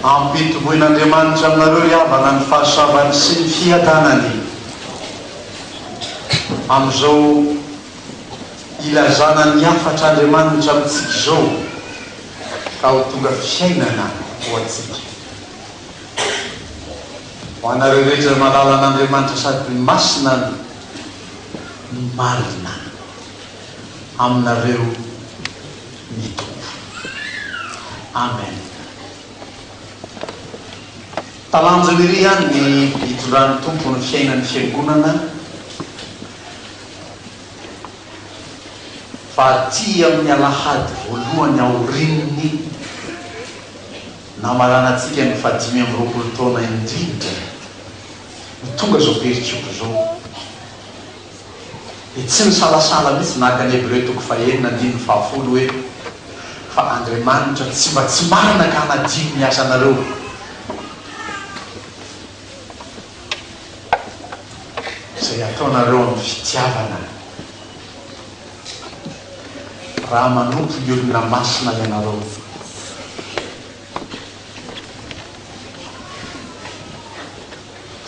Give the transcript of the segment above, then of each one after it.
Ampitoboin'Andriamanitra aminareo ry havana ny fahasoavany sy ny fiadanany amin'izao ilazana ny hafatr'Andriamanitra amintsika izao ka ho tonga fiainana ho antsika. Ho anareo rehetra malala an'Andriamanitra sady masina ny marina aminareo ny Tompo. Amen. Talanjony ery ihany ny hitondran'ny Tompo ny fiainan'ny Fiangonana fa aty amin'ny alahady voalohany aorian'ny. Namaranantsika ny fahadimy amby roapolo taona indrindra no tonga izao pericop izao. Dia tsy nisalasala mihitsy naka ny Hebreo toko fahenina andininy fahafolo hoe, Fa Andriamanitra tsy mba tsy marina ka hanadino ny asanareo. Izay ataonareo amin'ny fitiavana. raha manompo ny olona masina ianareo.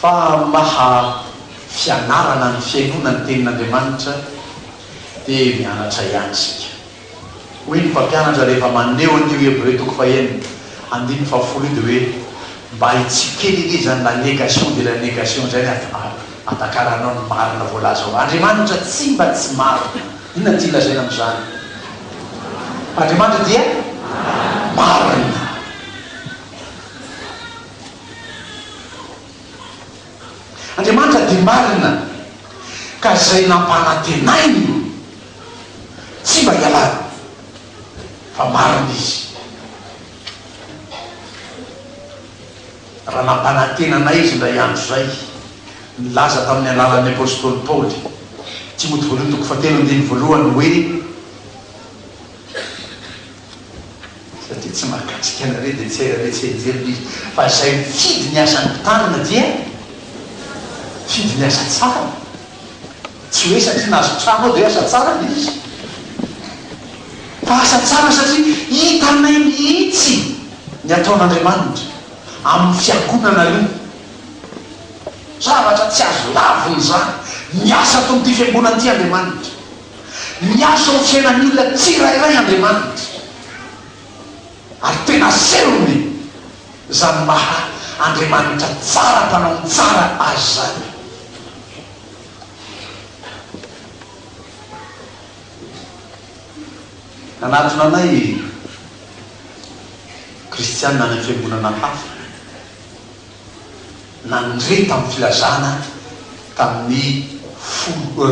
Fa amin'ny maha fianarana ny fihainoana ny Tenin'Andriamanitra dia mianatra ihany isika. Hoy ny mpampianatra rehefa maneho an'io Hebreo toko fahenina andininy fahafolo io dia hoe, Mba hitsikera irery izany la negation de la negation izay ny ato. Atakaranao ny marina voalaza ao. Andriamanitra tsy mba tsy marina. Inona no tiany lazaina amin'izany? Andriamanitra dia marina. Andriamanitra dia marina, ka izay nampanantenainy tsy mba hialany, fa marina Izy. Raha nampanantena anay Izy indray andro izay, nilaza tamin'ny alalan'ny apostoly Paoly, Timoty Voalohany toko fahatelo andininy voalohany, hoe, Izay dia tsy mahakasika anareo dia tsy hay raha mety henjehina Izy, fa izay mifidy ny asan'ny mpitarina dia mifidy ny asa tsara. Tsy hoe satria nahazo trano aho dia hoe asa tsara ilay izy, fa asa tsara satria hitanay mihitsy ny ataon'Andriamanitra amin'ny fiangonana io. Zavatra tsy azo lavina izany, miasa ato amin'ity fiangonana ity Andriamanitra, miasa ao amin'ny fiainan'ny olona tsirairay Andriamanitra, ary tena asehony izany maha Andriamanitra tsara, mpanao ny tsara azy izany. Nanatona anay Kristianina any amin'ny fiangonana hafa nandre tamin'ny filazana tamin'ny folo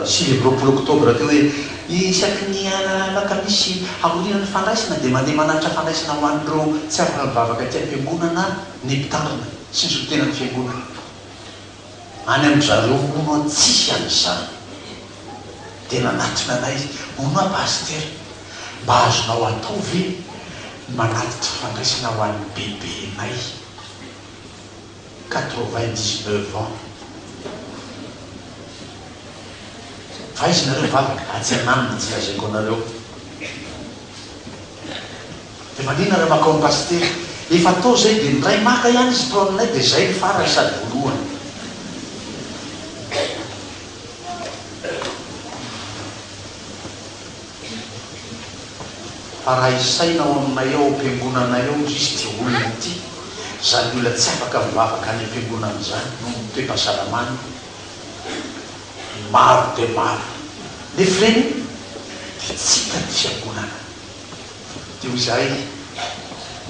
sivy amby roapolo oktobra teo hoe, Isaky ny alakamisy aoriana ny fandraisana dia mandeha manatitra fandraisana ho an'ireo tsy afaka mivavaka aty am-piangonana ny mpitandrina sy ny solontenan'ny fiangonana. Any amin-dry zareo hono an tsy an'izany. Dia nanatona anay izy, hono an Pasitera, mba azonao atao ve ny manatitra fandraisana ho an'ny bebenay quatre-vingt-dix-neuf ans. Fa aiza nareo vavaka, atsy an'aminy tsy lazaiko anareo. Dia maninona raha makao ny pasitera? Efa atao izay dia ny ray maka ihany izy atao aminay dia izay ny farany sady voalohany. Fa raha isaina ao aminay ao am-piangonanay ao izy izy dia olona tia izany olona tsy afaka mivavaka any am-piangonana izany noho ny toe-pahasalamany maro dia maro. Nefa ireny dia tsy hitan'ny fiangonana. Dia hoy izahay,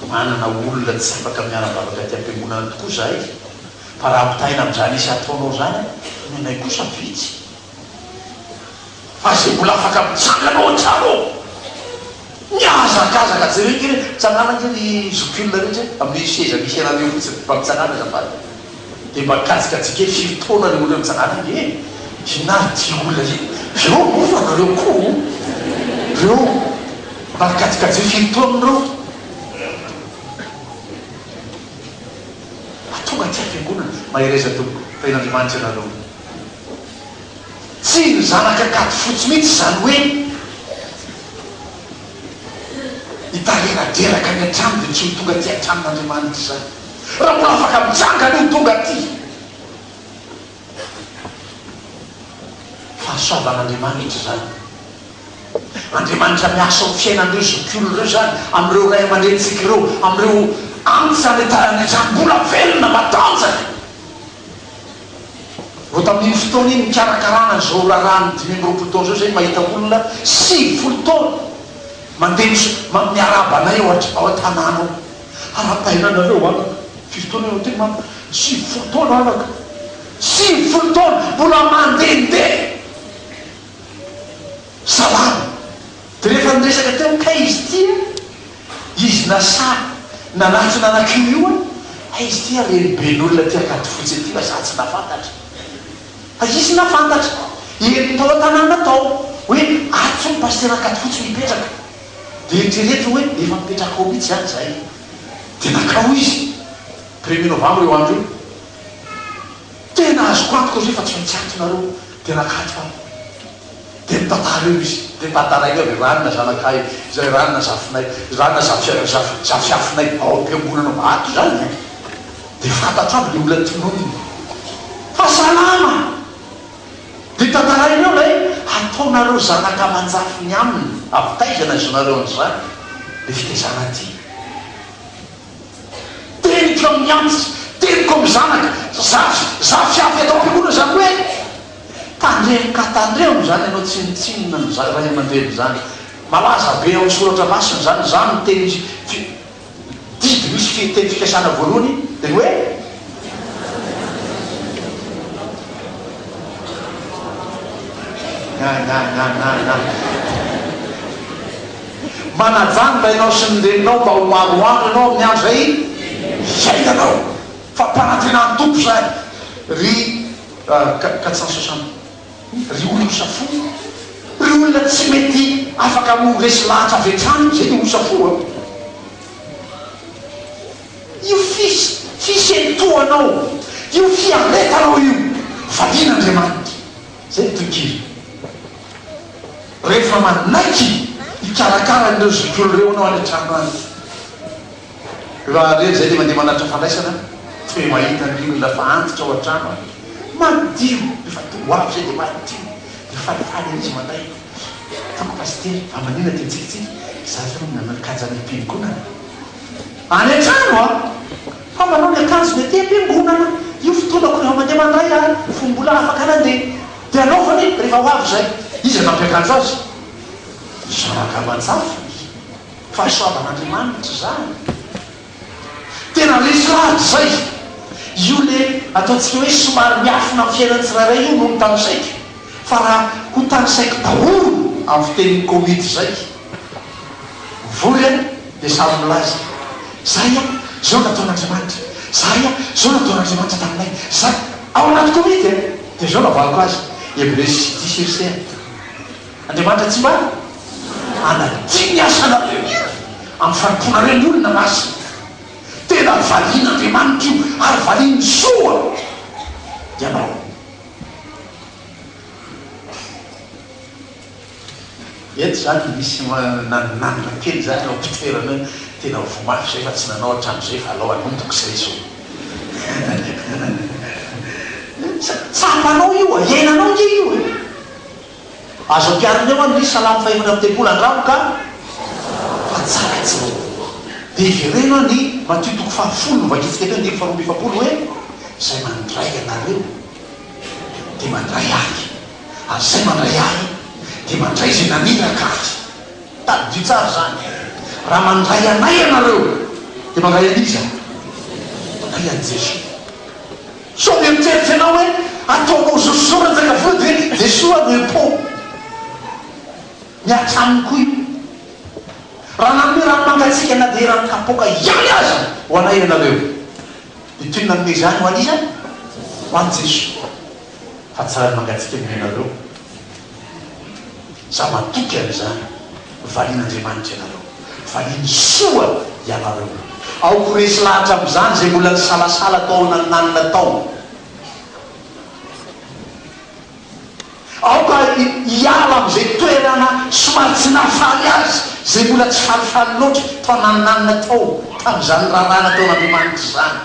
Manana olona tsy afaka miara-bavaka aty am-piangonana tokoa izahay, fa raha ampitahaina amin'izany isa ataonao izany, ny anay kosa vitsy. Fa izay mbola afaka mitsangana ao an-trano ao, mihazakazaka, jereo ange, mitsangàna ange ry zokiolona rehetra e, amin'io seza misy ianareo fotsiny, mba mitsangàna azafady. Dia mba kajikajika etsy firy taona le olona mijanala iny e! Inona ary ty olona iny? Reo moa fa nareo koa o! Reo mba kajikajio firy taona reo? Mba tonga aty am-piangonana! Mahereza tompoko! Tahian'Andriamanitra ianareo! Tsy ny zanaka kajy fotsy mihitsy izany hoe hitareradreraka any an-trano dia tsy ho tonga aty an-tranon'Andriamanitra izany. Raha mbola afaka mijanga aloha tonga aty. Fahasoavan'Andriamanitra izany. Andriamanitra miasa ao fiainan'ireo zokiolona ireo izany, amin'ireo ray aman-drenintsika ireo, amin'ireo antsa ny taranak'izany mbola velona matanjaka. Vao tamin'iny fotoana iny nikarakarana an'izao raharahan'ny dimy amby roapolo taona izao izahay mahita olona sivifolo taona mandeha miarahaba anay ao an-tanàna ao. Arahabaina anareo anaka, firy taona ianao teo mama? Sivy folo taona anaka, sivy folo taona mbola mandehandeha salama, dia rehefa niresaka teo kay izy ity a, izy nasahy nanatry nanakio io a, hay izy ity a reniben'olona aty Ankadifotsy aty fa za tsy nafantatra, fa izy nafantatra, eny tao an-tanàna tao, hoe ato zao ny pasitera Ankadifotsy mipetraka. Dia eritrereto hoe efa mipetraka ao mihitsy izany izahay. Dia nankao izy, premier novembre io andro io. Tena azoko antoka izy hoe fa tsy maintsy ato nareo. Dia nakato ahy. Dia nitantara eo izy. Dia nitantara iny hoe ranona zanakay, izay ranona zafinay, ranona zafizafizafizafinay ao am-piangonana ao. Ato izany e. Dia fantatro aby ilay olona tononiny. Fa salama! Dia tantarainao ilay ataonareo zanaka aman-jafy ny aminy, avy taiza no ahaizonareo an'izany? Ilay fitaizana aty. Teniko amin'ny antsy, teniko amin'ny zanaka, zafy, zafy avy ato am-piangonana izany hoe, tandremo ka tandremo izany ianao tsinontsinona ny ray aman-dreny izany, malaza be ao an-tsoratra masina izany, izany no teny fi, didy misy fi teny fikasana voalohany dia ny hoe na na na na na manajanga ianao sy ny reninao mba ho maroandro ianao amin'ny andro izay iainanao fa mpanantenan-tompo izany ry ah, ka ka tsy ny sasany Ry olona safo, ry olona tsy mety afaka ho resy lahatra avy hatrany io, zay ny olona safo a! Io fis, fisentohanao, io fiaretanao io, valian'Andriamanitra. Zay ny tohikira. Rehefa manaiky hikarakara an'ireo zokiolona ireo ianao any an-trano any, Raha rery izay dia mandeha manatitra fandraisana tsy mba mahita ny olona fa antitra ao an-trano ary madio. Rehefa tonga ho avy izay dia madio dia falifaly ery izy manday ny toko pasitera. Fa maninona dia mitsikitsiky? Izaho izao no nanan-kaja any am-piangonana. Any an-trano aho fa manao ny akanjony aty am-piangonana. Io fotoanako rehefa mandeha mandray aho fony mbola afaka nandeha dia anaovany rehefa ho avy izay. Iza nampiakanjo azy? Zanaka aman-jafiny. Fahasoavan'Andriamanitra izany. Tena resy lahatra izay. Io le ataontsika hoe somary miafina amin'ny fiainan'ny tsirairay io no notanisaiko. Fa raha hotanisaiko daholo amin'ny fitenin'ny Covid izay, vory an, dia samy milaza, Zahay an, izao nataon'Andriamanitra. Zahay an, izao nataon'Andriamanitra taminay. Zahay. Ao anaty Covid an, dia izao navaloko azy, Hebreus diis verset un. Andriamanitra tsy mba hanadio ny asanareo amin'ny fanompoanareo ny olona masina. Tena valian'Andriamanitra io ary valian'ny soa ianao. Eto izany misy nananona kely izany eo am-pitoerana eo, tena voa mafy izay fa tsy nanao hatramin'izay fa alao hanomboka izay zo. Tsapanao io e, iainanao ange io e. Azo ampiharina eo ny salamo fahefatra amby telopolo, Andramo ka fa tsara tsy mialoha. Dia hevereno any Matio toko fahafolo no vakiantsika teo andininy faharoa amby efapolo hoe, Izay mandray anareo dia mandray ahy, ary izay mandray ahy dia mandray izay naniraka ahy. Tadidio tsara izany e! Raha mandray anay ianareo, dia mandray an'iza? Mandray an'i Jesoa. Sao mieritreritra ianao hoe ataonao zozo Ranjakavody hoe dia soa no impôt ny hatramin'ny koa io. Raha nanome rano mangatsiaka na dia rano kapoaka ihany aza ho anay ianareo dia toy ny nanome izany ho an'iza? Ho an'i Jesoa. Fa tsy rano mangatsiaka no omenareo. Za matoky an'izany. Valian'Andriamanitra ianareo. Valiany soa ianareo. Aoka ho resy lahatra amin'izany izay mbola nisalasala tao an'Alnanina tao. Aoka hiala amin'izay toerana somary tsy nahafaly azy izay mbola tsy falifaly loatra tao an'Alnanina tao, tamin'izany raharaha nataon'Andriamanitra izany.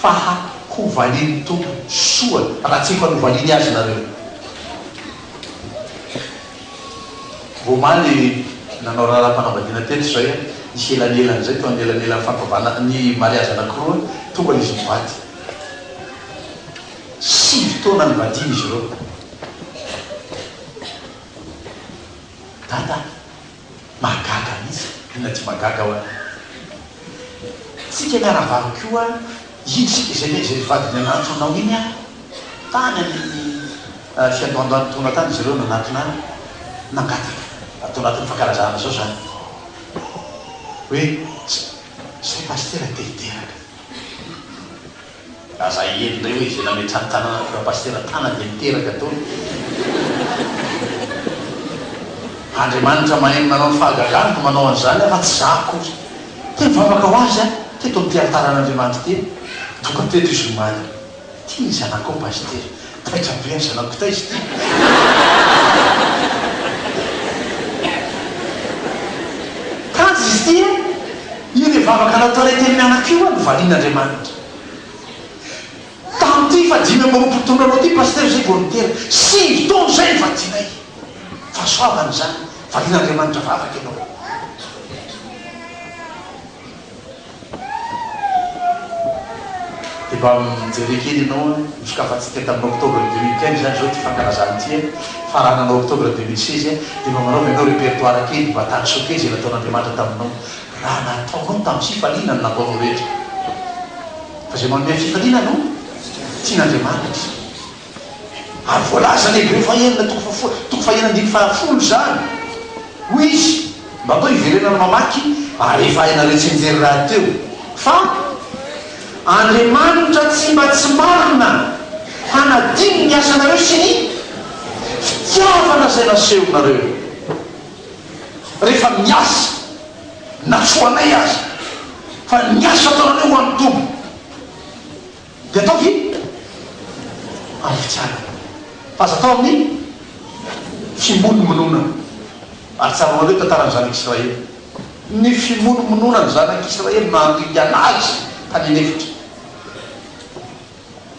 Fa ha ho valian'ny Tompo soa raha tsy efa novaliany azy nareo. Vao omaly nanao raharaham-panambadiana teto izay aho, nisy elanelana izay teo anelanelan'ny fankavana, ny mariazy anankiroa, tonga izy mivady. Sivy taona nivadiana izy ireo. Dada. Mahagaga mihitsy, inona tsy mahagaga hoa tsika miaravavy koa iny sika izay ve izay vadiny an'antso anao iny an! tany amin'ny fiandohandohan'ny taona tany izy ireo nanatona nangataka ato anatin'ny fankalazana izao izany hoe zay pasitera dia hiteraka Raha za hiely indray hoe izay nametrany tanana tonga pasitera tana dia miteraka dolo. Andriamanitra mahay ny manao ny fahagagany no manao an'izany aho fa tsy za akory. Te hivavaka ho azy aho teto amin'ity alitaran'Andriamanitra ity. Doka teto izy omaly. Tian'ny zanakao pasitera. Taitra be ry zanako kitay izy ity. Tanjona izy ity an! Io ilay vavaka nataonay teny mianaka io an, novalian'Andriamanitra. Tamin'ity fahadimy amby roapolo taona anao ity Pasitera izay vao nidera. Sivy taona izay ny vadinay. Fahasoavana izany, valian'Andriamanitra vavaka ianao. Dia mba mijery kely ianao an, nisokafantsika tety amin'ny octobre deux mille quinze izany izao ity fankalazana ity an, faranana octobre deux mille seize an, dia mba manaova ianao repertoire kely, mba taniso kely izay nataon'Andriamanitra taminao, raha nataonao tamin'ny fifaliana ny nataonao rehetra, fa izay manome fifaliana no tian'Andriamanitra. Ary voalazan'i Hebreo fahenina toko faha folo toko fahenina andininy faha folo izany. Hoy izy, Mba toa hiverenana mamaky ary efa hainareo tsinjery rahateo fa Andriamanitra tsy mba tsy marina hanadino ny asanareo sy ny fitiavana izay nasehonareo rehefa miasa, na tsy ho anay aza, fa ny asa ataonareo ho an'ny Tompo. Dia atao ny amin'ny fitiavana. Fa aza atao amin'ny fimonomononana. Ary tsaroanareo tantaran'ny Zanak'i Israely. Ny fimonomononana ny Zanak'i Israely no nandringana azy tany an'efitra.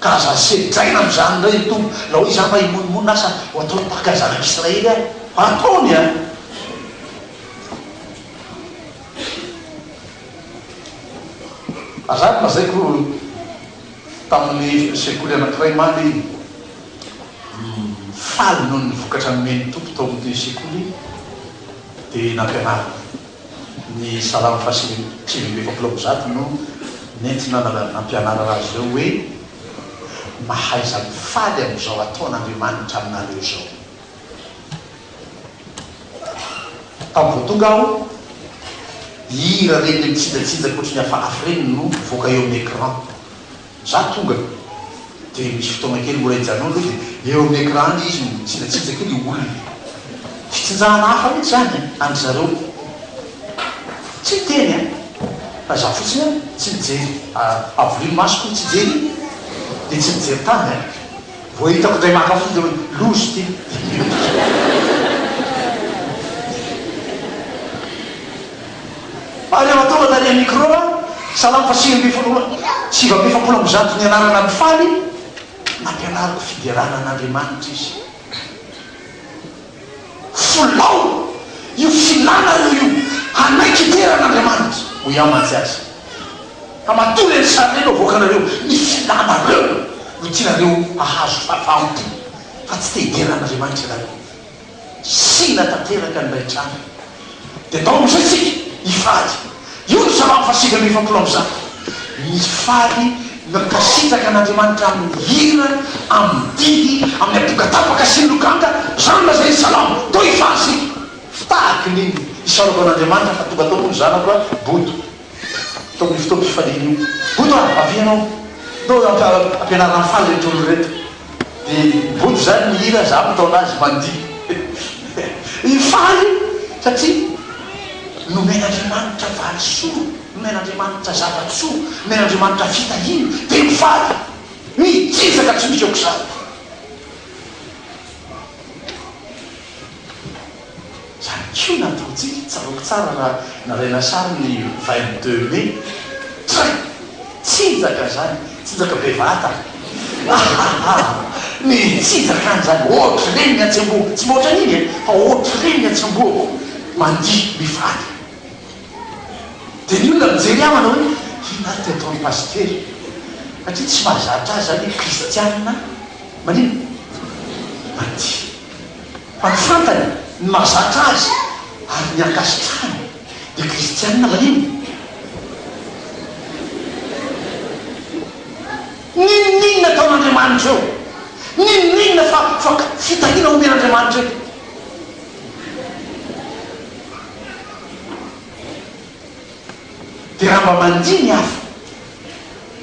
Ka aza sedraina amin'izany indray ny Tompo. Raha hoe izaho mba himonomonona asa ho ataony tahaka ny Zanak'i Israely aho. Ataony an! Azafady lazaiko tamin'ny sekoly anankiray maly iny, faly noho ny vokatra nomen'ny Tompo tao amin'ity sekoly iny dia nampianarina. Ny Salamo fahasivy amby sivy amby efapolo amby zato no nentina nampianarana azy ireo hoe, Mahaiza mifaly amin'izao ataon'Andriamanitra aminareo izao. Tamin'ny vao tonga aho, hira ireny le mitsinjatsinja koatry ny afahafy ireny no mivoaka eo amin'ny écran. Za tonga dia misy fotoana kely mbola hijanona aloha dia eo amin'ny écran any izy mitsinjatsinja kely io olona. Fitsinjahana hafa mihitsy izany an, an-dry zareo. Tsy niteny an, fa za fotsiny an, tsy nijery, avolino masoko tsy hijery iny dia tsy nijery tany an. Vao hitako indray maka fidy hoe lozy ity. Ary eo an-taona tany amin'ny micro aho, salamo fa sivy ambin'ny folo roa, sivy amby efapolo amby zato nianarana ny faly, nampianariko fiderana an'Andriamanitra izy. Folao io filanareo io hanaiky toeran' Andriamanitra. Hoy aho mantsy aza fa matoa le ry sary le no avoakanareo, ny filanareo no tianareo hahazo fafahampo fa tsy te hidera an' Andriamanitra ianareo. Sina tanteraka ny ray trano Dia tao amin'izay isika hifaly. Io no salamo fahasivy amby efapolo amby zato. Mifaly mankasitraka an'Andriamanitra amin'ny hira, amin'ny didy, amin'ny aponga tapaka sy ny lokanga, izany no lazain'ny salamo. Toa hifaly isika. Fitahaky ny isaorako an'Andriamanitra fa tonga tao moa ny zanako a! Bodo. Tokony fotoam pifaliana io. Boto a! Avia ianao. Ndao ampianarina faly ireto olona ireto. Dia Boto izany mihira, izaho mitaona azy mandihy. Io faly io satria nomen'Andriamanitra valisoa, nomen'Andriamanitra zava-tsoa, nomen'Andriamanitra fitahiana, dia mifaly. Mijijaka tsy misy aok'izany. Izany koa no ataontsika. Tsaroako tsara raha nalaina sary ny vingt deux mai. Train! Tsinjaka izany, tsinjaka bevata. Ahaha! Ny tsinjaka any izany, ohatran'iny ny atsy am-bohoko. Tsy mba ohatran'iny e, fa ohatran'iny ny atsy am-bohoko, mandihy mivady. Dia ny olona mijery ahy manao hoe, inona ary ity ataon'i Pasitera? Satria tsy mahazatra azy izany hoe kristiana manina, mandihy. Fa ny fantany ny mahazatra azy ary ny ankasitrahany dia kristiana va iny? N'inon'inona ataon'Andriamanitra eo, n'inon'inona fa fa fitahiana omen'Andriamanitra eo. Dia raha mba mandihy ny hafa,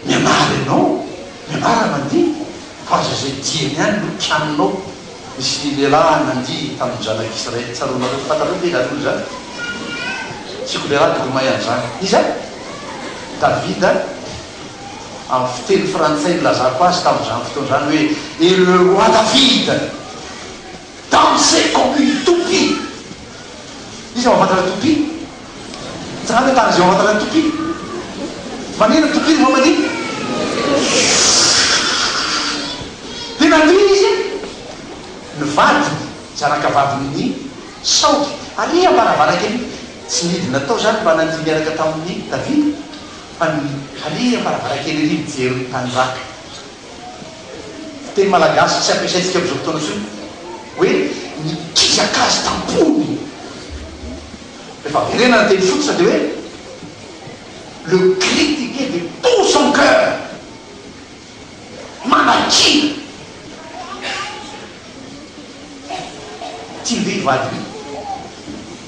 mianara ianao, mianara mandihy, fa aza izay dieny ihany no kianinao. Nisy lehilahy nandihy tamin'ny Zanaka Israely, tsaroanareo, fantatrareo ve ianareo izany? Tiako lehilahy tokony mahay an'izany. Iza? Davida, amin'ny fiteny frantsay nilazako azy tamin'izany fotoana izany hoe Et le roi David. Danser comme une toupie! Iza ao anatin'ilay toupie? Jereo ilay tany izay ao anatin'ilay toupie. Manino ny toupie rehefa manino? Dia nandeha izy an! Ny vadiny, zanaka vadiny ny saogy ary am varavaran-kely. Tsy nidina tao izany mba nandihy niaraka tamin'i Davida, fa ny ary am varavaran-kely ery mijery ny tany raka. Fiteny malagasy tsy ampiasaintsika amin'izao fotoana intsony hoe nikizaka azy tam-pony. Rehefa averena ny teny fototra dia hoe le critiquer de tout son coeur, manakiana. Tiany ve i vadiny io?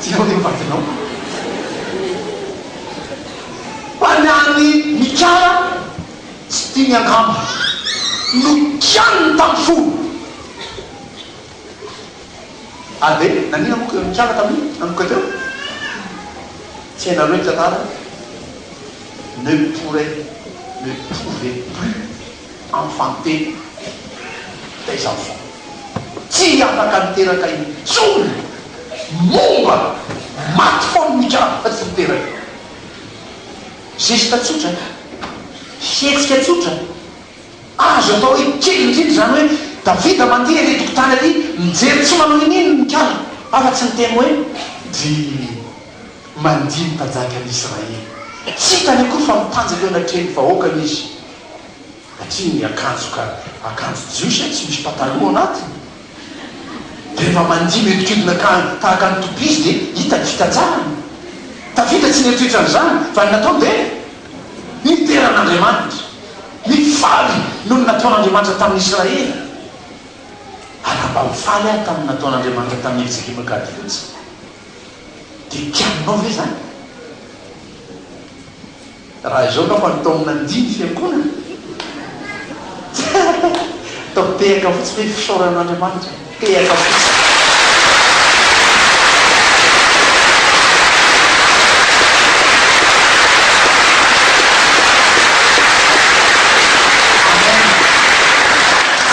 Jereo ny vadinao. Fa ny an'i Mikala tsy tiany angamba no kianiny tamin'ny fony. Ary ve nanina moa i Mikala tamin'io nanomboka teo? Tsy hainareo ny tantara? Ne pourrait, ne pouvait plus amin'ny fanontena dia izao foana, Tsy afaka niteraka intsony momba maty foana ny karapan'i Luther io. Geste tsotra, fihetsika tsotra, azo atao hoe kely indrindra izany hoe, Davida mandeha ery an-tokotany ery, mijery tsy manao in'inona ny kaliny, afa-tsy niteny hoe, Dry mandihy ny mpanjakan'i Israely. Tsy hitany akory fa mitanjaka eo anatrehan'ny vahoakany izy satria ny akanjo ka akanjo jiosy tsy misy pataloha anatiny dia rehefa mandihy mihodinkodina ka tahaka ny toupie izy dia hita ny fitanjahany. Davida tsy nieritreritra an'izany fa ny nataony dia nidera an'Andriamanitra. Nifaly noho ny nataon'Andriamanitra tamin'i Israely. Ary raha mba ho faly aho tamin'ny nataon'Andriamanitra tamin'i Eliselioma Gady fotsiny dia kianinao ve izany? Raha izao ka fa ny taomina ny dimy fiankonana atao tehaka fotsiny hoe fisaorana an'Andriamanitra tehaka fotsiny.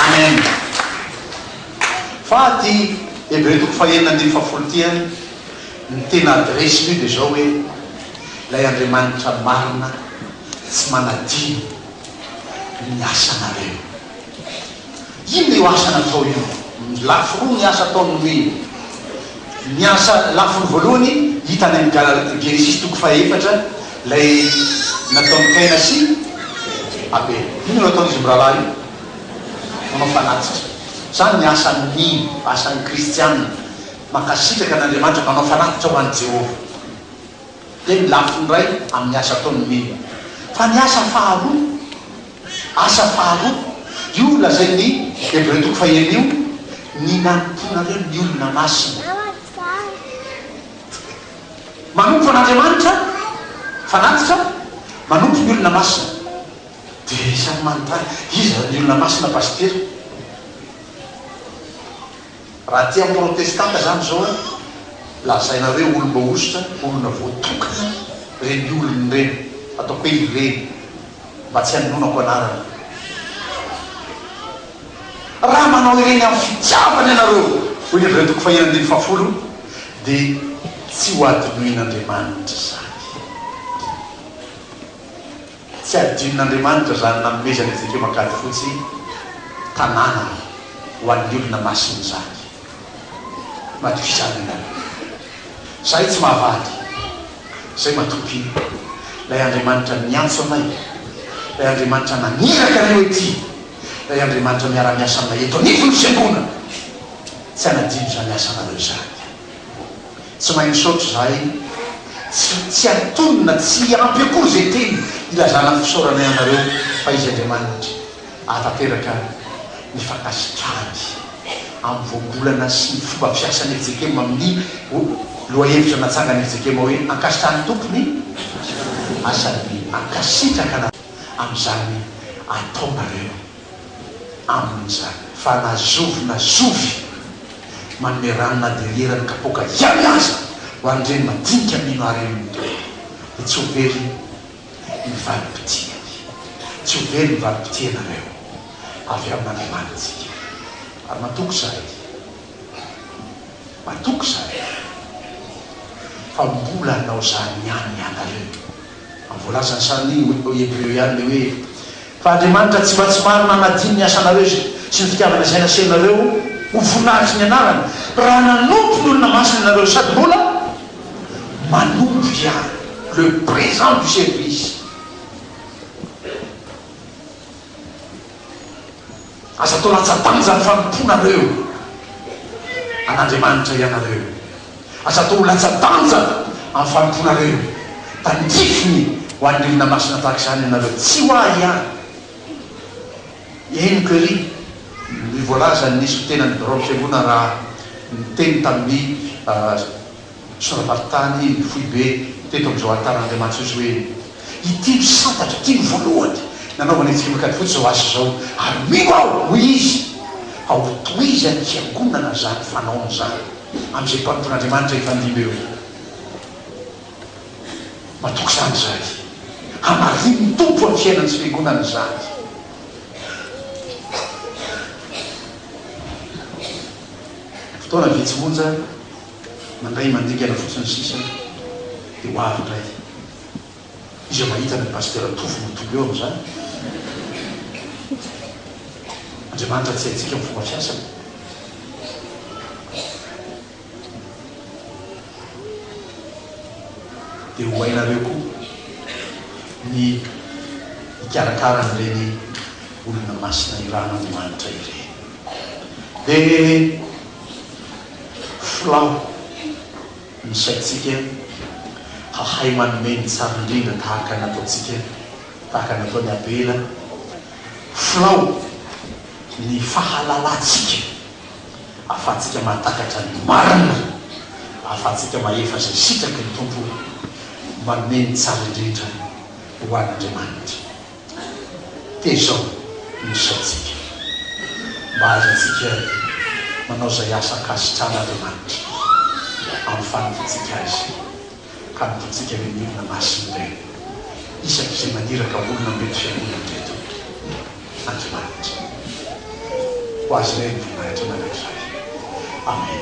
Amen Amen fa aty Hebreo toko fahenina andininy fahafolo ity ary Ny tena adresse moa dia zao hoe ilay Andriamanitra marina tsy manadino ny asanareo. Inona io asa natao io? Lafy roa ny asa ataony nomeny. Ny asa lafiny voalohany hita any amin'ny Genesisy toko faha efatra ilay nataon'i Kaina sy Abela. Inona no ataon'izy mirahalahy io? Manao fanatitra. Izany ny asan'ny mino, asan'ny kristiana. Mankasitraka an'Andriamanitra manao fanatitra ho an'i Jehovah. Dia ny lafiny iray amin'ny asa ataon'ny milina. Fa ny asa faharoa, asa faharoa, io lazain'ny Hebreo toko fahenina io, ny nanompoanareo ny olona masina. Manompo an'Andriamanitra, fanatitra, manompo ny olona masina. Dia samy manontany, iza ny olona masina Pasitera? Raha aty amin'ny protestanta izany izao an, lazaina hoe olona hosotra, olona voatokana ireny olona ireny, ataoko hoe ireny mba tsy hanononako anarana. Raha manao ireny amin'ny fitiavana ianareo, hoy ny avy eo toko faheno andininy fahafolo, dia tsy ho hadinoin'Andriamanitra izany. Tsy hadinon'Andriamanitra izany nanomezany antsika eo Ankadifotsy tanàna ho an'ny olona masiny izany. Matokisano ianareo. Izahay tsy mahavady. Izay matoky Ilay Andriamanitra niantso anay, Ilay Andriamanitra naniraka anay ho ety, Ilay Andriamanitra miara-miasa aminay eto anivon'ny Fiangonana. Tsy hanadino izany asanareo izany. Tsy mahay misaotra za ee. Tsy tsy antonona, tsy ampy akory zay teny ilazana ny fisaoranay anareo fa izy Andriamanitra ahatanteraka ny fankasitrahany amin'ny voambolana sy ny fomba fiasan'i FJKM amin'ny lohahevitra natsangan'i FJKM hoe ankasitrahan'ny Tompo ny asany. Mankasitraka anareo amin'izany ataonareo. amin'izany. Fa na zovy na zovy manome rano na dia ry eran'ny kapoaka ihany aza ho an'ireny madinika mino haren'ny Tompo, dia tsy ho very ny valim-pitihany. Tsy ho very ny valim-pitihanareo avy amin'Andriamanitsika. Ary matoky izahay, matoky izahay fa mbola hanao izany ihany ianareo. Voalazan'i Sandy hoe tao Hebreo ihany ilay hoe, Fa Andriamanitra tsy mba tsy marina hanadino ny asanareo sy ny fitiavana izay nasehonareo ho voninahitry ny anarany, raha nanompo ny olona masina ianareo sady mbola manompo ihany. Le présent du service. Aza atao latsa-danja ny fanompoanareo an'Andriamanitra ianareo. Aza atao ho latsa-danja amin'ny fanompoanareo. Tandrifiny ho an'ny olona masina tahaka izany ianareo, tsy ho ahy ihany. Henoko ery ny voalazan'ny Solotenan'ny Biraon'ny Fiangonana raha niteny tamin'ny. Sora-maritany foibe teto amin'izao alitaran' Andriamanitra izao hoe, Ity no santatra, ity no voalohany nanaovana ity lokany fotsy izao asa izao, ary mino aho, hoy izy, fa hotohizan'ny fiangonana izany fanaony izany, amin'izay mpanompo an'Andriamanitra hifandimby eo. Matoky izany izahay. Hamarinin'ny Tompo amin'ny fiainan'ny tsy fiangonana izany. Fotoana vitsy monja. Mandray mandingana fotsiny sisa dia ho avy indray. Iza mahita ny Pasitera Tovo mitombo eo amin'izany? Andriamanitra tsy haintsika ny fomba fiasany. Dia ho hainareo koa ny hikarakara an'ireny olona masina irahan'Andriamanitra ireny. Dia. Filao, ny saintsika hahay manome ny tsara indrindra tahaka ny nataontsika, tahaka ny nataon'i Abela. Filao, ny fahalalantsika ahafahantsika mahatakatra ny marina, ahafahantsika mahefa izay sitraky ny Tompo, manome ny tsara indrindra ho an'Andriamanitra. Tezao ny isaontsika mba hahazoantsika manao izay asa ankasitran'Andriamanitra amin'ny faniriantsika Azy ka hanompoantsika ny milina masin'ny Reny isaky izay maniraka olona mety fiangonana teto Andriamanitra. Ho Azy indray ny voninahitra mandrakizay. Amen.